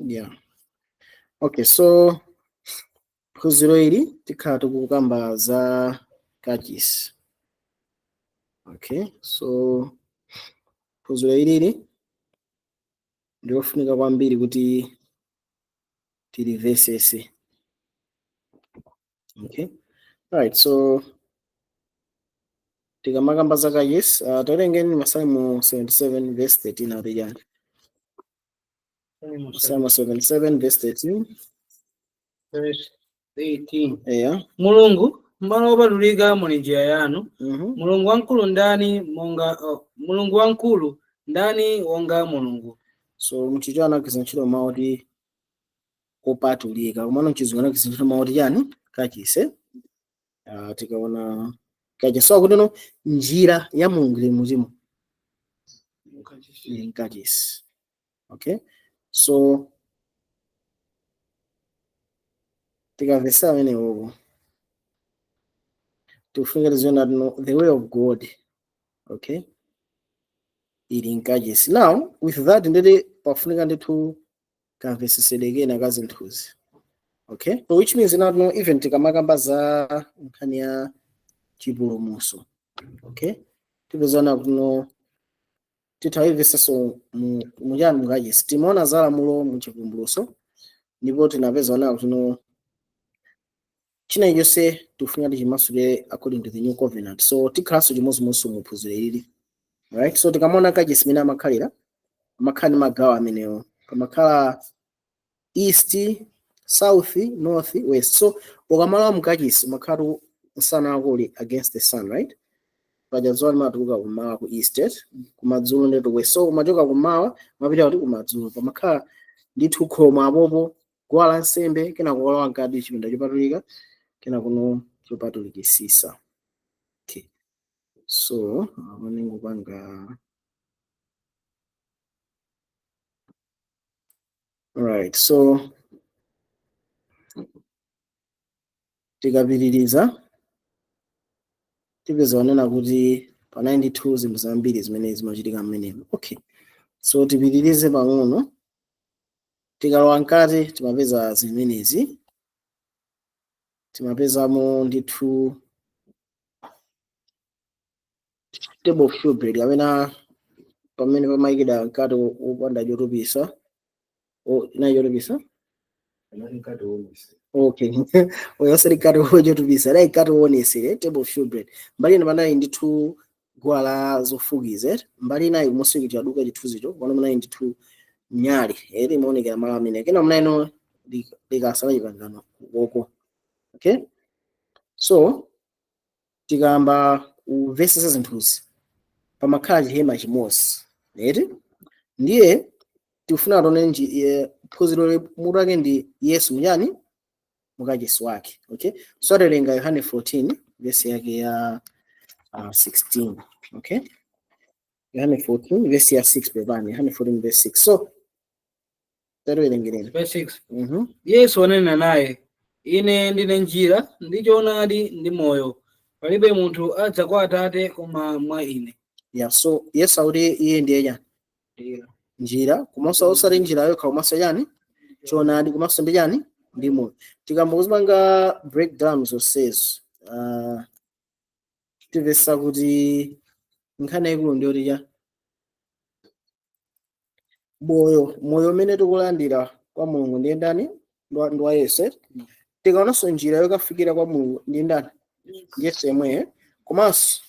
yeah okay so phunziro ili tikhala tikukamba za kachisi okay so phunziro ilili ndilofunika kwambiri kuti tilivesese okay all right so tikamakamba za kachisi uh, tawerengeni masalimo 77 verse 13 akuti chani masalimo 77 verse 13 verse 13. eya mulungu m'malo opatulika muli njira yanu mhm mulungu wamkulu ndani monga oh, mulungu wamkulu ndani wonga mulungu so mchichewa anagwiritsa ntchito mawu oti kopatulika komano mchizungu anagwiritsa ntchito mawu oti chani kachisi uh, tikaona kachisi so akuti no njira ya mulungu ili muzimu ili mkachisi okay so tikavesa amene uku tikufunika tiziona kuti no the way of god okay ili mkachisi now with that nde kuti pafunika ndithu kamvesesedwe kena ka zinthuzi okay so which means kunena kuti no even tikamakamba za nkhani ya chipulumuso okay tipeza kunena kuti no titha kuivesesa muchani mukachisi timaona za lamulo muchivumbuluso ndipo tinapeza kunena kuti no china chonse tikufunika tichimasule according to the new covenant so tikhalanso chimodzimodzinso mu phunziro ili right so tikamaona kachisi mmene amakhalira amakhala ndi magawo amenewo pamakhala east south north west so ukamalowa mkachisi umakhala kuti msana wako uli against the sun right paja dzuwa limatuluka kumawa ku east right? kumadzulo ndi ku west so umachoka kumawa umapita kuti kumadzulo pamakhala ndithu khomo apopo guwa la nsembe kenako ulowa mkati chipinda chopatulika kenakono chopatulikisisa okay. so amene ngupanga all right so tikapitiriza tipeza kunena kuti pali ndithu zinthu zambiri zimene zimachitika mmenemo okay so tipitirize pang'ono tikalowa mkati timapeza zimenezi timapezamo ndithu table of showbread kapena pamene pamayikidwa mkate wo- wopanda chotupisa o- unali chotupisa okay oyoseri mkate wochotupisa unali mkate woonesera table of showbread mbali ina panali ndithu guwa la zofukiza eti mbali inayi kumusiku chaduka chithunzicho koma munali ndithu nyali eti imaonekera malo amene kena munali no likasa la chipangano ukoko okay so tikayamba kumvetsetsa zinthuzi pamakhala chihema chimodzi eti ndiye tikufuna tione nji- ye- phunziro le- mutu wake ndi yesu mchani mukachisi wake okay so tawerenga yohane 14 vesi yake ya uh, 16 okay yohane 14 vesi ya 6 pepani yohane 14 vesi 6 so tawerengereni Verse 6. mhm yesu ananena naye ine ndine njira ndi choonadi ndi moyo palibe munthu adza kwa atate koma mwa ine yeah so yesu akuti iye ndiye chani Ndiyo. njira komanso osati njira yokha komanso chani choonadi komanso ndi chani ndi moyo tikayamba kuzipanga breakdown zonsezo uh, tipeza kuti nkhani yaikulu ndi yoti cha moyo moyo umene tikulandira kwa mulungu ndiye ndani Ndi wa- ndi wa yesu eh? tikaonanso njira yokafikira kwa mulungu ndi ndani yesu yemweyo komanso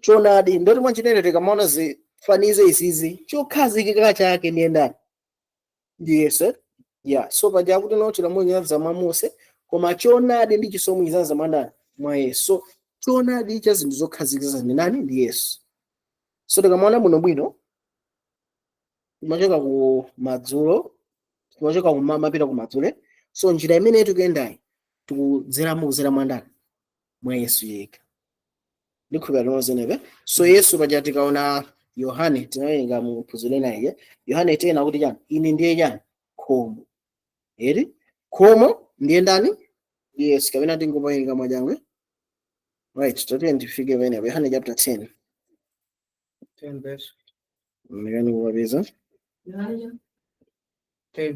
choonadi ndoti mwanjira ina tikamaona zifanizo izizi chokhazikika chake ndiye ndani ndi yesu eh? ya so paja akuti no chilamulo chinadza mwa mose koma choonadi ndi chisomo chinadza mwa ndani mwa yesu so choonadi cha zinthu zokhazikika ndi ndani ndi yesu so tikamaona bwinobwino timachoka ku madzulo timachoka kummawa kupita ku madzulo eh? so njira imene tikuyendayi tikudzeramo kudzera mwa ndani mwa yesu yekha ndikhulupira limodzi nebe so yesu paja tikaona yohane tinawerenga mu phunziro lina iye yohane 10 anena kuti chani ine ndiye chani khomo eti khomo ndiye ndani yesu kapena tingopawerenga mwachangu eh right tatiyeni tifike penepo yohane chapter 10 10 verse mekani kupapeza 10.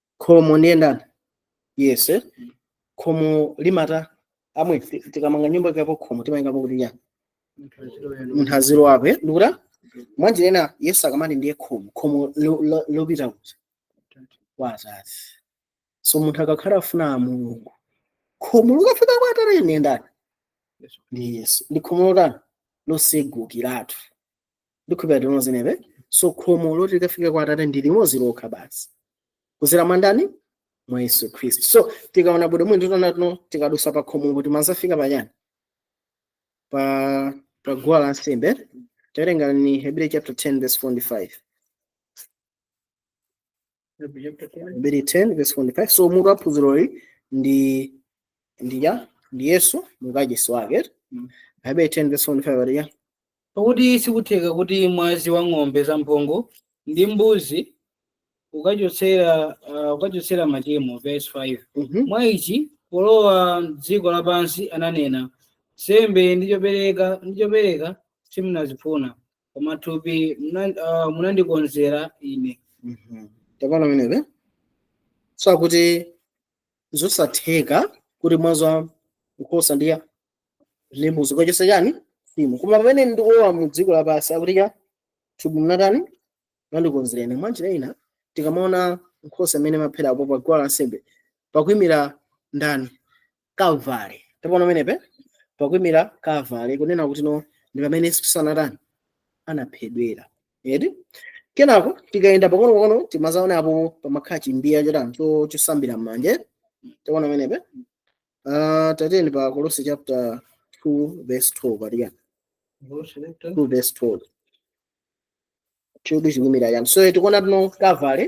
khomo ndiye ndani yesu eh? khomo limata amwe ti- tikamanga nyumba kuikapo khomo timaikapo kuti chani munthu azilowako eh? ndikuti mwanjira ina yesu akamati ndiye khomo khomo lo- lo- lopita kuti kwa atate so munthu akakhala afuna a mulungu khomo lokafika kwa atate ndiye ndani ndi yesu ndi khomo lotani losegukiratu ndikhulupira limodzi nebe so khomo loti likafika kwa atate ndi limodzi lokha basi kudzera mwa ndani mwa yesu khristu so tikaona bwinobwino titaona tino tikadutsa pa khomopo timadzafika pachani pa pa guwa la nsembe tawerengani hebrew chapter 10 verse 4 ndi 5 Hebrew chapter 10. Hebrew 10 verse 4 5 so mutu wa phunziroli ndi ndi yesu mukachisi wake Mm. Hebrew 10 verse 4 5 ali ya pakuti sikutheka kuti mwazi wa ng'ombe zamphongo ndi mbuzi ukachotsera uh, ukachotsera machimo verse 5 Mhm. mwa ichi polowa m'dziko lapansi ananena nsembe ndi chopereka ndi chopereka simunazifuna koma thupi muna- ah, munandikonzera ine Mhm. tapaona pamenepo so akuti zosatheka kuti mwazi wa nkhosa ndi ndi mbuzi ukachotsa chani tchimo koma pamene ndikulowa mu dziko lapansi akuti cha thupi munatani munandikonzera ine mwanjira ina tikamaona nkhosa amene amaphera apo pa guwa lansembe pakuyimira ndani kalvare tapaona pamenepo pakuyimira kalvare kunena kuti no ndi pamene yesu khristu anatani anaphedwera eti kenako tikayenda pang'ono pang'ono timadzaona apo pamakhala chimbiya chotani cho- chosambira m'manja tapaona pamenepo Ah, tatiyeni pa kolose chapter 2 verse 12 patikani 2 verse 12 chidwi chikuyimira chani so tikuona kuti no kalvare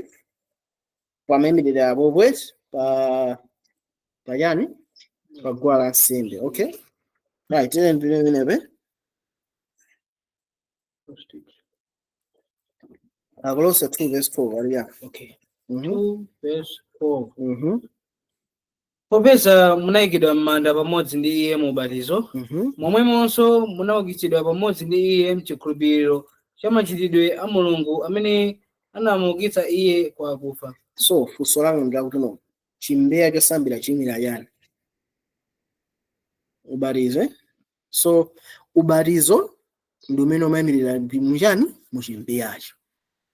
pamayimirira apo bwezi pa pachani pa guwa la nsembe okay right tene ndine imenepe akolose 2 verse 4 ali ya okay mhm Two verse four. mhm popeza munayikidwa m'manda pamodzi ndi iye mu ubatizo Mhm. momwemonso munaukitsidwa pamodzi ndi iye mchikhulupiriro cha machitidwe a mulungu amene anamuukitsa iye kwa akufa so funso langa ndi lakuti no chimbiya chosambira chiyimira chani ubatizo eh? so ubatizo ndi umene umayimirira muchani muchimbiyacho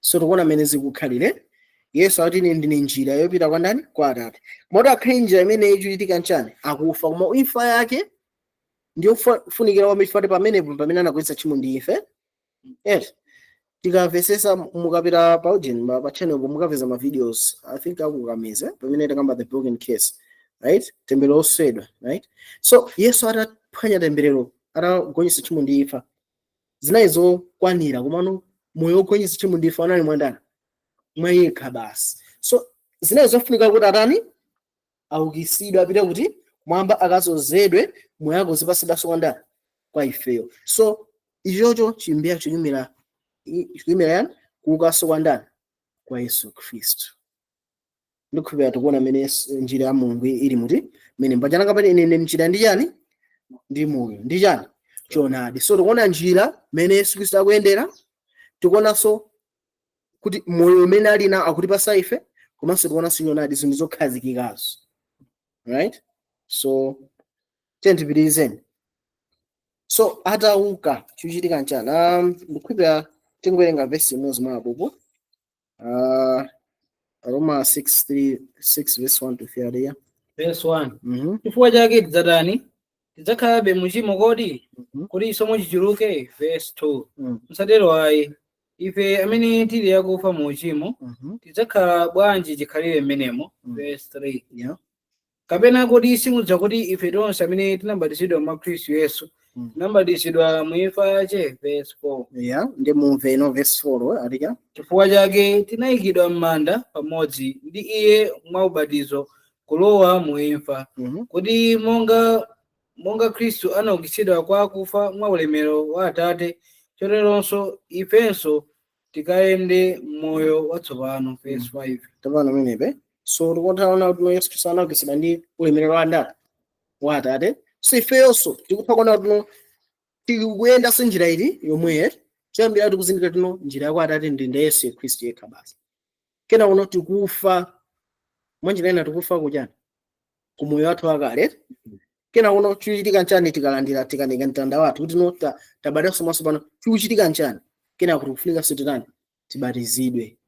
so tikuona mmene zikukhalire yesu ati ine ndine njira yopita kwa ndani kwa atate moti akhale njira imene ichitika nchani akufa koma imfa yake ndiyofunikira kwa ife chifukwa pamenepo pamene anagonjetsa tchimo ndi imfa yes tikamvetsetsa mukapita pa ujeni ma- pa channel po mukapeza ma videos i think mukapeza pamene takamba the broken curse right temberero losweka right so yesu ataphwanya temberero atagonjetsa tchimo ndi imfa zinali zokwanira komano moyo wogonjetsa tchimo ndi imfa anali mwa ndani mwa iye yekha basi so zinali zofunika kuti atani aukitsidwe apite kuti kumwamba akadzozedwe moyo wake uzipatsidwanso kwa ndani kwa ifeyo so ichocho chimbiya chikuyimira chikuyimira chani kuukanso kwa ndani kwa yesu khristu ndikhulupirira tikuona mmene Yesu- njira ya mulungu ili muti mmene mbanja langa pati ine ndine njira ndi chani ndi moyo ndi chani choonadi so tikuona njira mmene yesu khristu akuyendera tikuonanso kuti moyo umene ali nawo akutipatsa ife komanso tikuonanso choonadi zinthu zokhazikikazo right so tiyeni tipitirizeni so atauka chikuchitika nchani um, ndikukhulupirira tingowerenga vesi imodzi mwa apopo uh, aroma 6 3 6 verse 1 to 3 ali yani Verse 1. mm -hmm. chifukwa chake tidzatani tidzakhalabe muchimo kodi Mhm. kuti chisomo chichuluke verse 2 Mm. msatero ayi ife amene tili akufa mu uchimo Mhm. tidzakhala bwanji chikhalire mmenemo Mm. verse 3 Yeah. kapena kodi simudziwa kuti ife tonse amene tinabatizidwa mwa khristu yesu Mm. tinabatizidwa mu imfa yace verse 4 Yeah. Ndi mu imfa ino verse 4 ali yani. chifukwa chake tinayikidwa m'manda pamodzi ndi iye mwa ubatizo kulowa mu imfa Mhm. kuti monga khristu anaukitsidwa kwa akufa mwa ulemerero wa atate choteronso ifenso tikayende moyo watsopano verse 5 tamvana pamenepe so tikuona kuti yesu khristu anaukitsidwa ndi ulemerero wa ndani wa atate so ifeyonso tikupha kuona kuti tikuyendanso njira iti yomweyo choyambira tikuzindikira kuti no njira ya kwa atate ndi ndani yesu khristu yekha basi kenako no tikufa mwanjira ina tikufa kuchani ku moyo wathu wakale kenako no chikuchitika nchani tikalandira tikanyamula mtanda wathu kuti no ta- tabadwanso mwatsopano chikuchitika nchani kenako tikufunikanso titani tibatizidwe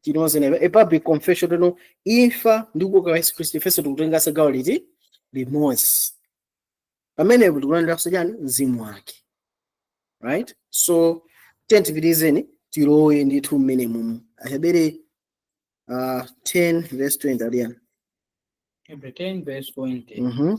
kuonetsa kuti ndi a public confession kuti no imfa ndi kuuka kwa yesu khristu ifenso tikutenganso gawo liti limodzi pamenepo tikulandiranso chani mzimu wake right so tiyeni tipitirizeni tilowe ndithu mmene mumu ahebere uh, 10 verse 20 ali yani Hebrew 10 verse 20. Mhm.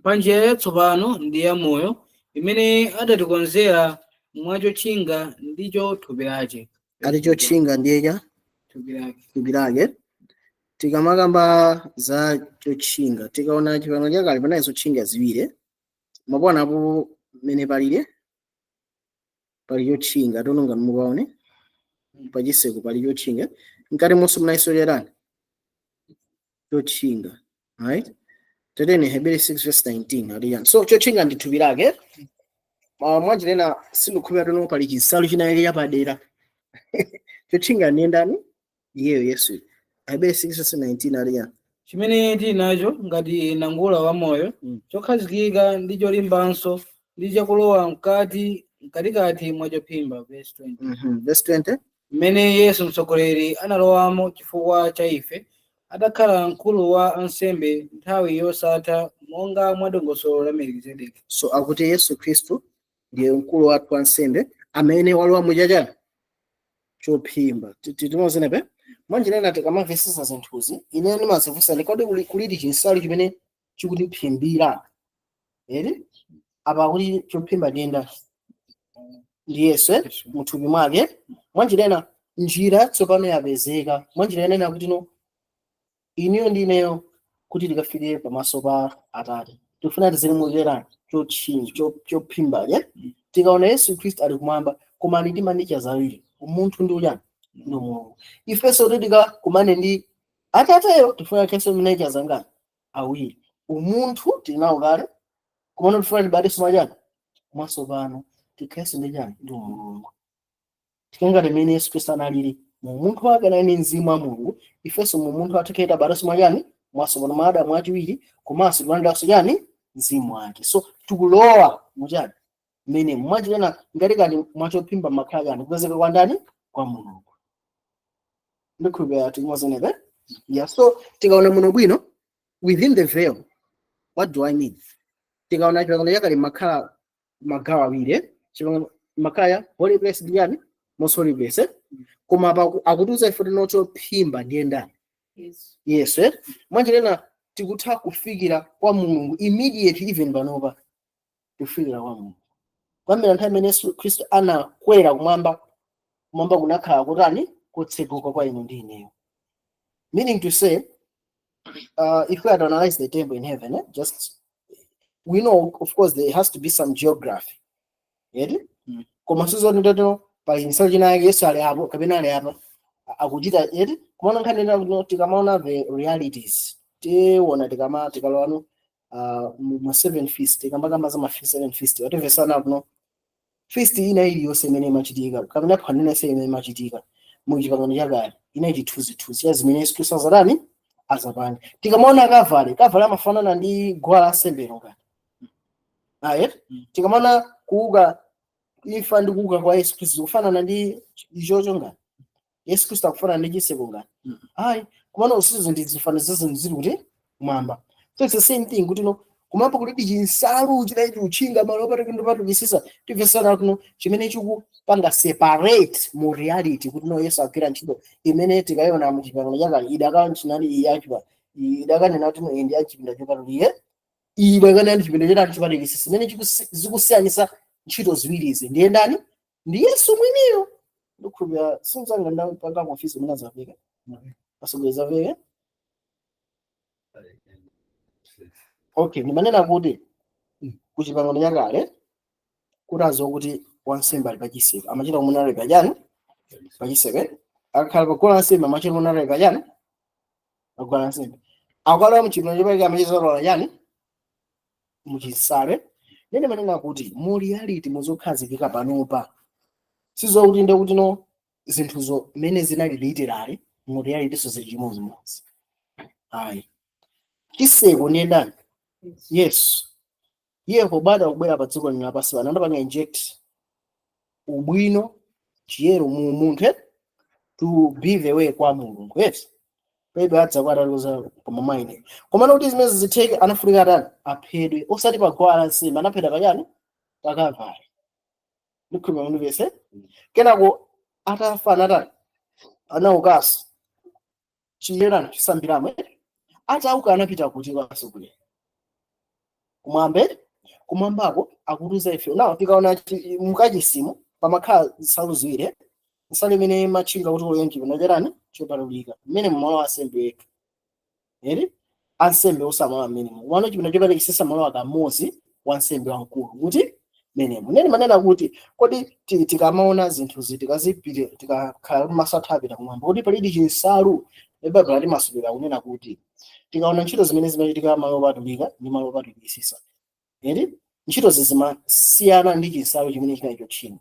pa njira yatsopano ndi ya moyo imene adatikonzera mwachotchinga ndicho thupi lace ali chotchinga ndiye thupi lake tikamakamba za chotchinga tikaona chipangano chakale panali zotchinga ziwiri mwapomwe apo mmene palili pali chotchinga kuti no ngati mukaone pachitseko pali chotchinga mkati monso munalinso chani chotchinga right tiyeni ahebere 6 verse 19 ali yani so chotchinga ndi thupi lake uh, mwanjira ina sindikhulupirira kuti no pali chinsalu china yake chapadera chotchinga ndi ndani iyeyo yesu ahebere 6 verse 19 ali yani chimene tili nacho ngati nangula wa moyo Mm. chokhazikika ndi cholimbanso ndi chakulowa mkati mkatikati mwa chophimba verse 20 Mhm. verse 20 mmene Yesu Mtsogoleri analowamo chifukwa cha ife, adakhala mkulu wa ansembe nthawi yosatha monga mwa dongosolo la Melikizedeki. so akuti yesu khristu ndiye mkulu wathu wansembe amene walowa muchani chophimba tikumvana apa mwanjira ina tikamamvesesa zinthuzi ine ndimazifunsa kuti kodi kuli- kulidi chinsalu chimene chikutiphimbira ere apa kuti chophimba ndiye ndani yesu eh? muthupi mwake mwanjira ina njira yatsopano yapezeka mwanjira ina ina kuti no inuyo ndi ineyo kuti tikafike pamaso pa atate tifuna tizilimukira chotchinga cho- chophimba lye tikaona yesu khristu ali kumwamba koma ali ndi ma nature awiri umunthu ndi chiyani ndi umulungu ifenso kuti tikakumane ndi atateyo tifuna tikhalenso ma nature zangani awiri umunthu tili nawo kale komano tifuna tibadwenso mwachani mwatsopano tikhalenso ndi chani ndi umulungu tikhale ngati mmene yesu khristu analili mu umunthu wake anali ndi mzimu wa mulungu ifenso mu umunthu wathu tikhale tabadwenso mwachani mwatsopano mwa adamu wachiwiri komanso tikalandirenso chani mzimu wake so tikulowa muchani mmenemo mwachitani mkatikati mwachophimba mumakhala chani kupezeka kwa ndani kwa mulungu ndikhulupirira tikumvana apa yeah so tikaona muno bwino within the veil what do i mean tikaona chipangano chakale mumakhala magawo awiri eh? Chipangano- makhala ya holy place ndi chiyani most holy place eh? koma apa aku- akutiuza ife kuti no chophimba ndiye ndani Yes. yesu eh? mwanjira ina tikutha kufikira kwa mulungu immediate even panopa kufikira kwa Mulungu kuyambira nthawi imene Yesu Khristu anakwera kumwamba kumwamba kunakhala kutani kotseguka kwa inu ndi ineyo meaning to say uh, if we had analyzed the temple in heaven eh, just we know of course there has to be some geography eti Mm. koma sizoti toto pali nsalu ina yake yesu ali apo kapena ali apa a- akuchita eti kumaona nkhani ina kuti tikamaona the realities tiona tikama tikalowano uh, mu ma seven feast tikamakamba za ma fe- seven feast eti tikumvesana kuno feast ina iliyonse imene imachitika kapena phwando lina lililonse limene imachitika mu chipangano chakale inali chithunzithunzi cha zimene yesu khristu adzatani adzapange tikamaona Kalvare Kalvare amafanana ndi guwa la nsembe lo ngati ayi Mm. tikamaona kuuka imfa ndi kuuka kwa yesu khristu zikufanana ndi ichocho ngati yesu khristu akufanana ndi chiseko ngati Mm. ayi komano izo ndi zifanizo zake zili kuti kumwamba so it's the same thing kuti no kumwamba kulibe chinsalu chinachake chotchinga malo opatulika ndi opatulikitsitsa timvesana kuno chimene chikupanga separate mu reality kuti no yesu agwira ntchito imene tikaiona mu chipangano chakale idakakhala ntchito iyi ya chipa idakanena kuti no iyi ndi ya chipinda chopatulika iyi idakanena ndi chipinda chopatu- chopatulikitsitsa chimene chikusi- zikusiyanitsa ntchito ziwirizi ndiye ndani ndi yesu mwiniyo ndikhulupira sinzanga ndapanga confuse umene azapeka asogoleza peke okay ndimanena kuti ku chipangano chakale kuti aziwa kuti wansembe ali pachiseko amachita kumuona ali pachani pachiseko eh? akakhala paguwa la nsembe amachita kumuona ali pachani paguwa la nsembe akalowa mchipinda chopatulika amachita zalola chani muchinsalu nde ndimanena kuti mu reality muzokhazikika panopa sizokuti nde kuti no zinthuzo mmene zinali literally mu reality so zili chimodzimodzi ayi chiseko ndiye ndani yesu iye pobadwa kubwera pa dziko lino lapansi pano anapanga inject ubwino chiyero mu umunthu eh? to be the way kwa mulungu yes pedro adzakwata loza koma maine komano kuti zimenezi zitheke anafunika atani aphedwe osati paguwa la nsembe anaphedwa pachani pakavale ndikhulupira mundimvese kenako atafa anatani anaukaso chiyera chosambiramo eti? atauka anapita kuti kwa atsogoleri kumwamba kumwambako akutiuza ife nawo tikaona chi- mukachisimo pamakhala nsalu ziwiri eh? nsalu imene imatchinga kuti ulowe mchipinda chotani chopatulika mmene mumalowa ansembe eti eti ansembe onse amalowa mmenemo komano chipinda chopatulikisisa amalowa kamodzi wansembe wamkulu kuti mmenemo nde ndimanena kuti kodi ti- tikamaona zinthuzi tikazipite tikakhala kuti maso athu apita kumwamba kodi palidi chinsalu nde baibulo latimasulira kunena kuti tikaona ntchito zimene zimachitika malo opatulika ndi malo opatulikisisa eti ntchitozi zimasiyana ndi chinsalu chimene chinali chotchinga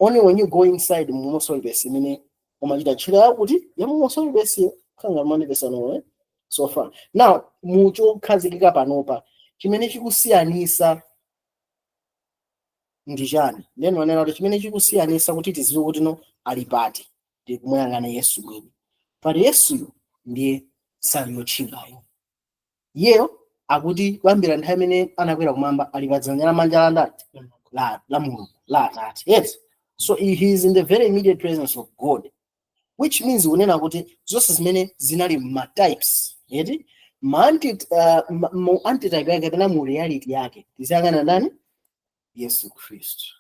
only when you go inside mu most holy place imene umachita ntchito yakuti ya mu most holy place khanga manipesano eh? so far now muchokhazikika panopa chimene chikusiyanisa ndi chani nde ndanena kuti chimene chikusiyanisa kuti tiziwe kuti no ali pati ndi kumuyang'ana yesu mwini pali yesuyo ndiye nsalu yotchingayo iyeyo akuti kuyambira nthawi imene anakwera kumwamba ali padzanja lamanja la ndani la, la mulungu la atate yes so he he is in the very immediate presence of god which means kunena kuti zonse zimene zinali ma types eti ma anti uh, ma- mu antitype yake kapena mu reality yake tiziyang'ana ndani yesu khristu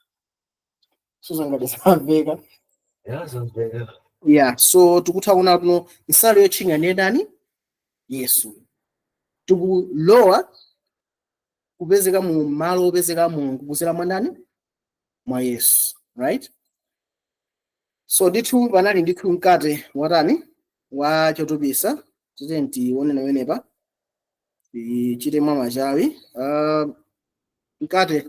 sindiziwa ngati zamveka ya zamveka yeah so tikutha kuona kuti no nsalu yotchinga ndiye ndani yesu tikulowa kupezeka mu malo opezeka mulungu kuzera mwa ndani mwa yesu right so ndithu panali ndithu mkate watani wa chotupisa tiyeni tione pamenepa tichite mwa machawi uh, mkate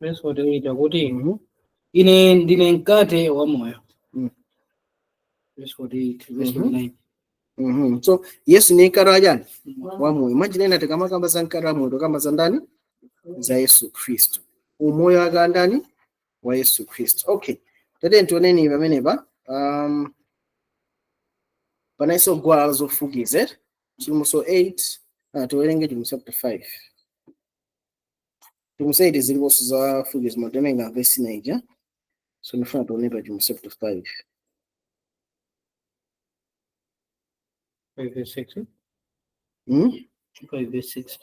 Verse 48 akuti Mhm. ine ndine mkate wa moyo. Mm. Verse 48, verse Mhm. 49. Mhm. so yesu ni mkate wa chani wa moyo mwanjira ina tikamakamba za mkate wa moyo tikukamba za ndani za yesu khristu umoyo wake wa ndani wa yesu khristu okay tatiyeni tioneni pamenepa um, panalinso guwa la zofukiza Chivumbulutso 8 ah, tiwerenge Chivumbulutso chapter 5 Chivumbulutso 8 ziliponso zofukiza zimatenenga vesi 9 ija so ndifuna tione pa Chivumbulutso chapter 5 Five verse six. hmm? Five verse six.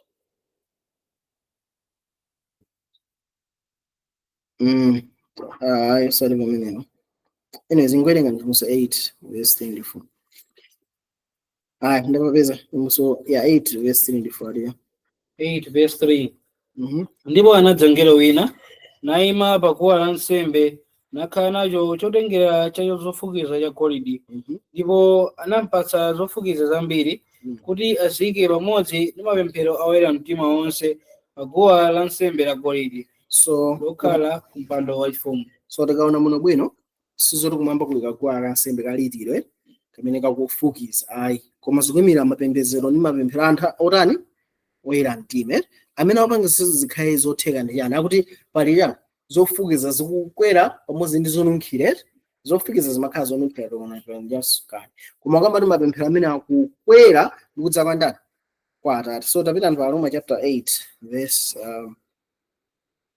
mm. ah, ayi sali pamenepo anyways ndikuwerenga Chivumbulutso 8 vesi 3 ndi 4 Aya, ndapapeza Chivumbulutso ya 8 verse 3 ndi 4 ya. 8 verse 3 Mhm. ndipo anadza mngelo wina naima pa guwa la nsembe nakhala nacho chotengera cha zofukiza cha golidi Mhm. ndipo anampatsa zofukiza zambiri Mm. kuti aziyike pamodzi ndi mapemphero a oyera mtima onse pa guwa la nsembe la golidi So lokhala ku mpando wachifumu so tikaona muno bwino sizoti kumwamba kuli kaguwa kansembe ka literal eh, kamene kakufukiza ayi koma zikuimira mapembedzero ndi mapemphero a anthu otani oyera mtima eh. amene akupanga izo zikhale zotheka ndi chani akuti pali chani zofukiza zikukwera pamodzi ndi zonunkhira eh. zofukiza zimakhala zonunkhira tokonaasukani koma akukamba ndi mapemphero amene akukwera ndi kudza kwa ndani kwa atate so tapitani pa Aroma chapter 8 verse um,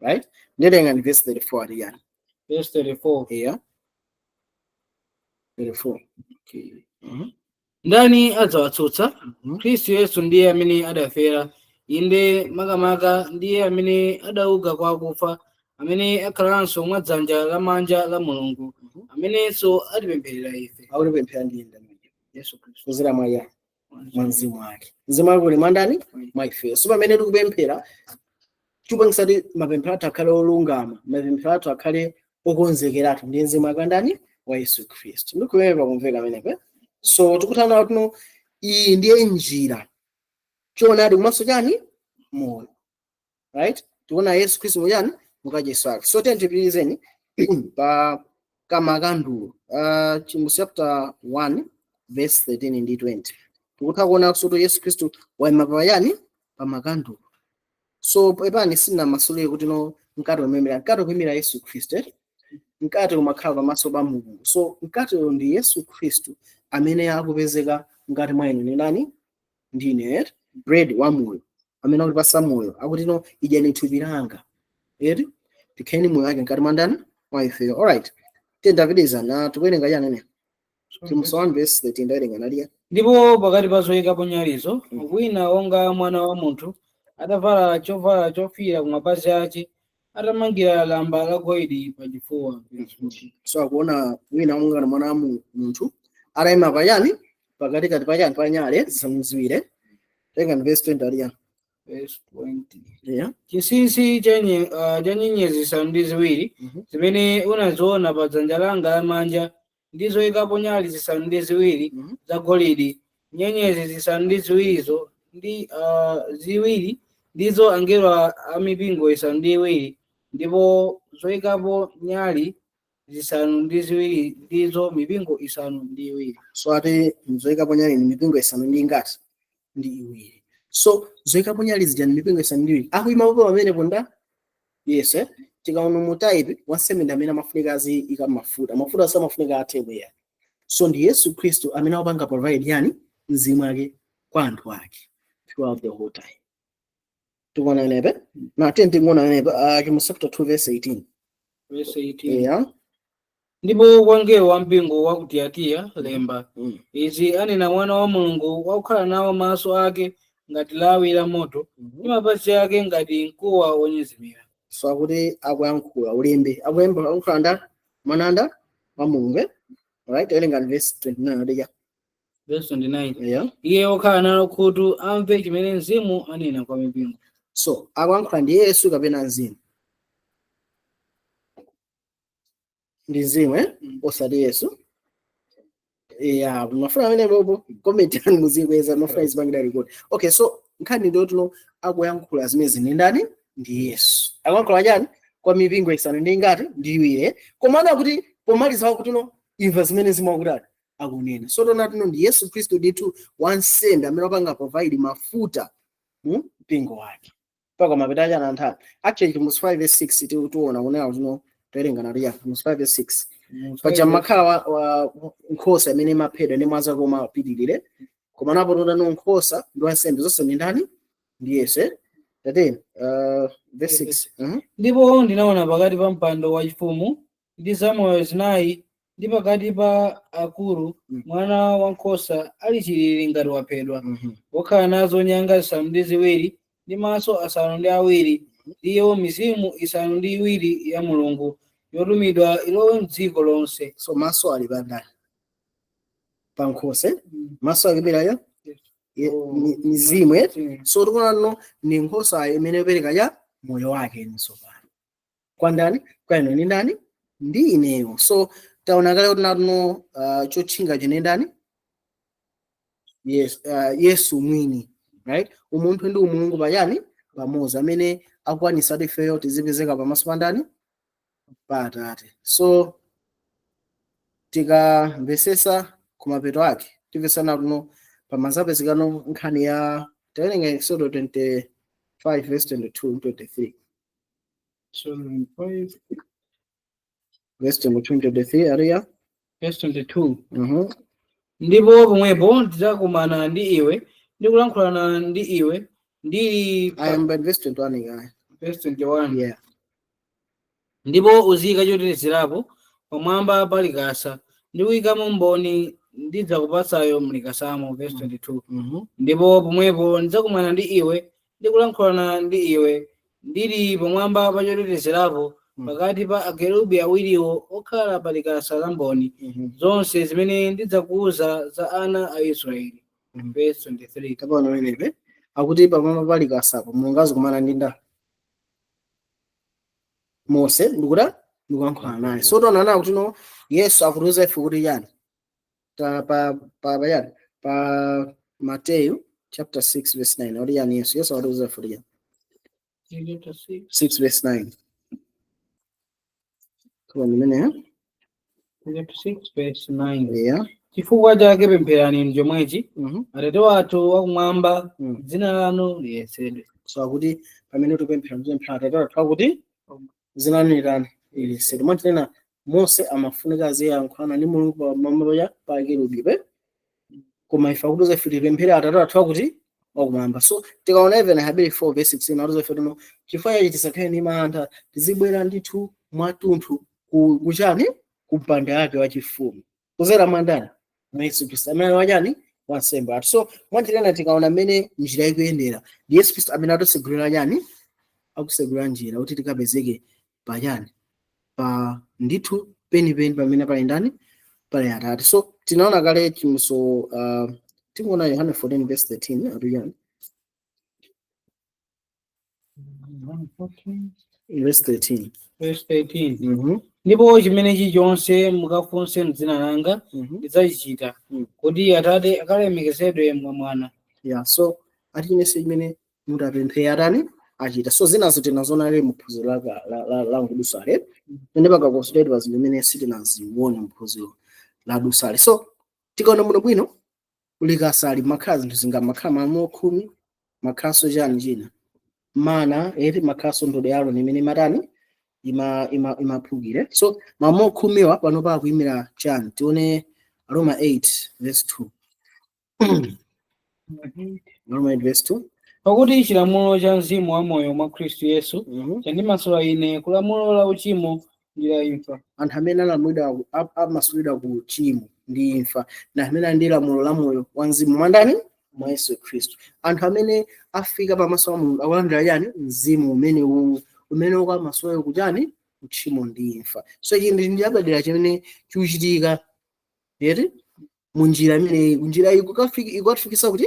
right nde werengani verse 34 ati chani verse 34 yeah 34 okay mhm ndani adzawatsutsa mhm khristu yesu ndiye amene adafera inde makamaka ndiye amene adauka kwa akufa amene akhalanso mwa dzanja lamanja la mulungu amenenso atipempherera ife akutipempherera ndi ndani yesu khristu kudzera mwa ya mwa mzimu wake mzimu wake uli mwa ndani mwa ifeyo so pamene tikupemphera chikupangitsa kuti mapemphero athu akhale olungama mapemphero athu akhale okonzekeratu ndi mzimu wake wa ndani wa yesu khristu ndikhulupirira pakumveka pamenepe so tikutha kuona kuti iye ndiye njira choonadi komanso chani moyo right tikuona yesu khristu mu chani mukachisi wake so tiyeni tipitirizeni pa kamakandulo uh, Chivumbulutso chapter 1 verse 13 ndi 20 tikutha kuona kuti yesu khristu waima pa chani pa makandulo so pepani sindinamasulire kuti no mkate umaimira mkate ukuimira yesu khristu eh? mkate umakhala pamaso pa mulungu so mkatewo ndi yesu khristu amene akupezeka ngati mwa inu ni nani ndine eti bread wa moyo amene akutipasa moyo akuti no idyani thupi langa eti tikhale ni moyo wake mkati mwa ndani mwa ifeyo alright tiyeni tipitirize na tikuwerenga chani ene Chivumbulutso 1 verse 13 ndawerenga naliya ndipo pakati pa zoyikapo nyalizo wina wonga mwana wa munthu atavala chovala chofikira ku mapazi ace atamangira lamba la golidi pa chifuwa so akuona wina wonga na mwana wa mu- munthu atayima pa chani pakatikati pa chani pa nyale zisanu ziwiri tengani verse 20 aliya Verse 20. yeah. chinsinsi cha nye- ah, cha nyenyezi zisanu ndi ziwiri Mhm. zimene unaziona pa dzanja langa lamanja ndi zoikapo nyali zisanu ndi ziwiri Mhm. zagolidi nyenyezi zisanu ndi ziwirizo ndi ah, ziwiri ndizo angelo a- a mipingo isanu ndi iwiri ndipo zoikapo nyali zisanu ndi ziwiri ndizo mipingo isanu ndi iwiri so ati zoikapo nyali ni mipingo isanu ndi ingati ndi iwiri so zoikapo nyali zija ndi mipingo isanu ndi iwiri akuima pompo pamenepo ndani yesu eh? tikaona mu type wansembe ndi amene amafunika aziyika mafuta mafuta samafunika athe eya so ndi yesu khristu amene akupanga provide yani mzimu wake kwa anthu ake throughout the whole time tikuona inepe na tiye tikuona inepe uh, Chivumbulutso chapter 2 verse 18 Verse 18. yeah ndipo kwa mngelo wa mpingo wa ku Tiyatira lemba mm. izi anena mwana wa mulungu wakukhala nawo maso ake ngati lawi la moto ndi mapazi ake ngati mkuwa wonyezimira so akuti akuyankhula ulembe akulemba akuyankhula ndani mwana wa mulungu eh? right werengani verse 29 adija verse 29 eya iye wokhala nalo khutu amve chimene mzimu anena kwa mipingo so akuyankhula ndi yesu kapena mzimu ndi mzimu eh? Mm. osati yesu ya mafuna amene bobo comment yanu muzikweza timafuna izipangidwa record okay so nkhani ndiyoti no akuyankhula zimenezi ni ndani ndi yesu akuyankhula chani kwa mipingo isanu ndi ingati ndi iwiri eh? koma ana kuti pomaliza akuti no imva zimene mzimu akutani akunena so taona kuti no ndi yesu khristu ndithu wansembe amene akupanga provide mafuta mu mpingo wake mpaka mapeto ache a nthawi actually Chivumbulutso 5 verse 6 ti- tiona kunena kuti no towerenga nato ya Chivumbulutso 5 verse 6 paja imakhala wa, wa nkhosa imene imaphedwa ndi mwazi wake omwe apitirire koma apa taona no nkhosa ndi wansembe zonse ndi ndani ndi yesu eh? tateni uh, verse 6 Mhm. ndipo ndinaona pakati pa mpando wachifumu ndi zamoyo zinayi ndi pakati pa akulu Mm. mwana wankhosa ali chilili ngati waphedwa Mhm. wokhala nazo nyanga zisanu ndi ziwiri ndi maso asanu ndi awiri ndiyo mizimu isanu ndi iwiri ya mulungu yotumidwa ilowe mdziko lonse so maso ali pandani pankhosa maso akuimira chani Oh. mizimu eh? so tikuonano ni nkhosa imene yopereka ya moyo wake ni tsopano kwa ndani kwa inu ndi ndani ndi ineyo so taona kale kuti natuno uh, chotchinga chinali ndani yes, uh, yesu mwini right umunthu ndi umulungu pachani pamodzi amene akwanisa kuti ifeyo tizipezeka pamaso pa ndani pa atate so tikamvesesa kumapeto ake timvesana kuno pamazapezekano nkhani ya tawerenga exodo 25 verse 22 23 So 25. Verse number 23 area. Verse 22. Mhm. Ndipo pomwepo ndidzakumana ndi iwe ndi kulankhulana ndi iwe ndili I pa- am by verse 21 guy. verse 21. Yeah. ndipo uziyika chotetezerapo pamwamba pa likasa ndi kuyikamo mboni ndidzakupatsayo mlikasamo verse 22 Mhm. ndipo pomwepo ndidzakumana ndi iwe ndi kulankhulana ndi iwe ndili pamwamba pa chotetezerapo Mm. pakati pa akerubi awiriwo okhala pa likasa la mboni Mhm. zonse zimene ndidzakuwuza za ana a israeli Mhm. verse 23 kapena pamenepe akuti pamwamba pa likasapo mulungu azikomana ndi ndani mose ndikuti ndikulankhulana naye so tikuona kuti no yesu akutiuza ife kuti chani ta- pa pa pachani pa Mateyu chapter 6 verse 9 oliyani Yesu Yesu akutiuza ife 6 verse 9 kwa mimene eh? yeah chifukwa chake pempherani inu chomwechi mhm atate wathu wakumwamba Mm. dzina lanu liyeretsedwe so akuti pamene tupemphera tupemphera atate wathu akuti dzina lanu litani liyeretsedwe mwatinena mose amafunika aziyankhulana ndi mulungu pamalo ya pa akerubi koma ife akutiuza ife tipemphere atate athu akuti wakumwamba so tikaona even aheberi 4 verse 16 akutiuza ife tino chifukwa chachi tisakhale ndi mantha tizibwera ndithu mwatunthu ku- kuchani ku mpando wake wachifumu kudzera mwandani mwa yesu khristu amene wachani wansembe athu so mwanjira ina tikaona mmene njira ikuyendera ndi yesu khristu amene akutisegulira chani akusegulira njira kuti tikapezeke pa chani pa ndithu penipeni pamene pali ndani pali atate so tinaona kale chimuso uh, tingoona yohane 14 verse 13 akuti chani Verse 13. Verse 13. Mhm, ndipo chimene chilichonse mukafunse mdzina langa mhm. ndidzachichita Mm. kuti atate akalemekezedwe mwa mwana Yeah, so ati chilichonse chimene mutapemphe atani achita so zinazo tinaziona kale muphunziro la ka- la- la- la nkudusale pene pakakonsulate pa zinthu zimene sitinazione muphunziro la dusale so tikaona bwinobwino ku likasa ali mumakhala zinthu zingati mumakhala malamulo khumi mumakhalanso chani china mana eti mumakhalanso ndodo ya aroni imene imatani ima ima imaphukire so malamulo khumiwa panopa akuimira chani tione aroma 8 verse 2 aroma 8 verse 2 pakuti chilamulo cha mzimu wa moyo mwa khristu yesu Mhm. chandimasula ine kulamulo la uchimo ndi la imfa anthu amene alamulidwa ku- a- amasulidwa ku uchimo ndi imfa na amene ali ndi lamulo la moyo wa mzimu mwa ndani mwa yesu khristu anthu amene afika pamaso pa mulungu akulandira chani mzimu umene uwu umene ukamasula iwo kuchani uchimo ndi imfa so ichi ndi chapadera chimene chikuchitika eti munjira imeneyi njira iyi ikukafiki- ikukafikisa kuti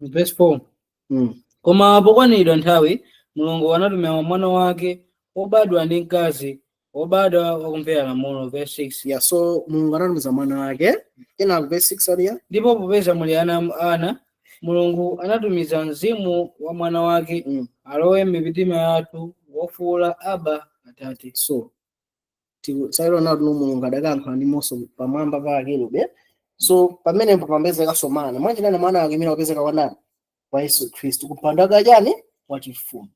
verse 4 Mm. koma pokwaniridwa nthawi mulungu anatumira mwana wake wobadwa ndi mkazi wobadwa wakumvera lamulo verse 6 Yeah, so Mulungu anatumiza mwana wake. Ina verse 6 ati yani. ndipo popeza muli ana am- ana mulungu anatumiza mzimu wa mwana wake Mm. alowe m'mitima yathu wofuula aba atate So tinaona kuti mulungu adakayankhula ndi mose pamwamba pa akerubi so pamenepo pamapezekanso mana mwanjira ina mwana wake imene wapezeka wa ndani wa yesu khristu kumpando wake wachani wachifumu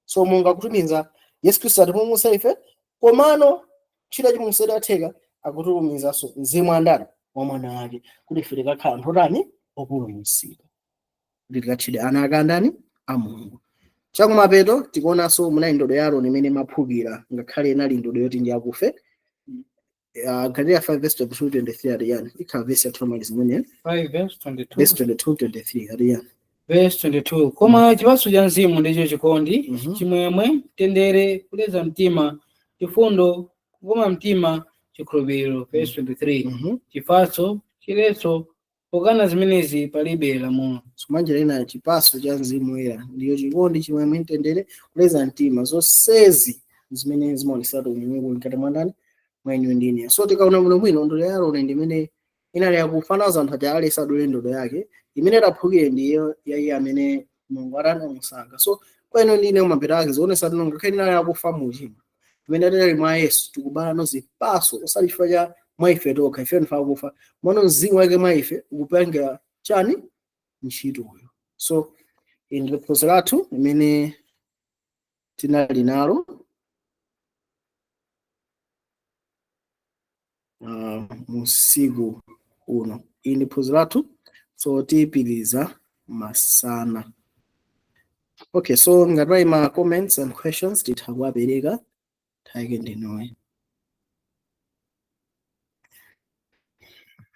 so mulungu akutumiza yesu khristu atipulumutse ife komano ntchito yachipulumutso idatheka akutumizanso mzimu wa ndani wa mwana wake kuti ife tikakhala anthu otani opulumutsidwa kuti tikatchedwe ana ake a ndani a mulungu chakumapeto tikuonanso munali ndodo ya aroni imene imaphukira ngakhale inali ndodo yoti ndi yakufa Ah, galatiya 5 verse 22 23 ati yani ikhala vesi yathu yomaliza imene 5 verse 22. vesi 22 23 ati yani Verse 22. Koma chipatso cha mzimu ndicho chikondi, Mhm. chimwemwe, mtendere, kuleza mtima, chifundo, kukoma mtima, chikhulupiriro. Verse 23. Mhm. Chifatso, chiletso, Pokana zimenezi palibe lamulo. So mwanjira ina, chipatso cha Mzimu Woyera ndiyo chikondi, chimwemwe, mtendere, kuleza mtima. Zonsezi zimene zimaoneseratu umulungu uli mkati mwa ndani? Mwa inuyo ndi ineyo. So tikaona bwinobwino, ndodo ya Aroni ndi imene inali yakufa anauza anthu aja aliyense adule ndodo yake, imene itaphukire ndiyo ya iye amene mulungu atanamusankha so kwa ino ndine mapeto ake zionesa kuti ngakhale tinali akufa mu uchimo pamene tinali mwa yesu tikubalano zipatso osati chifukwa cha mwa ife tokha ife ndife akufa koma mzimu wake mwa ife ukupangira chani ntchitoyo so ili ndi phunziro lathu limene tinali nalo uh, musiku uno ili ndi phunziro lathu so tipitiriza masana okay so ngati pali ma comments and questions titha kuwapereka time yake ndi inoyi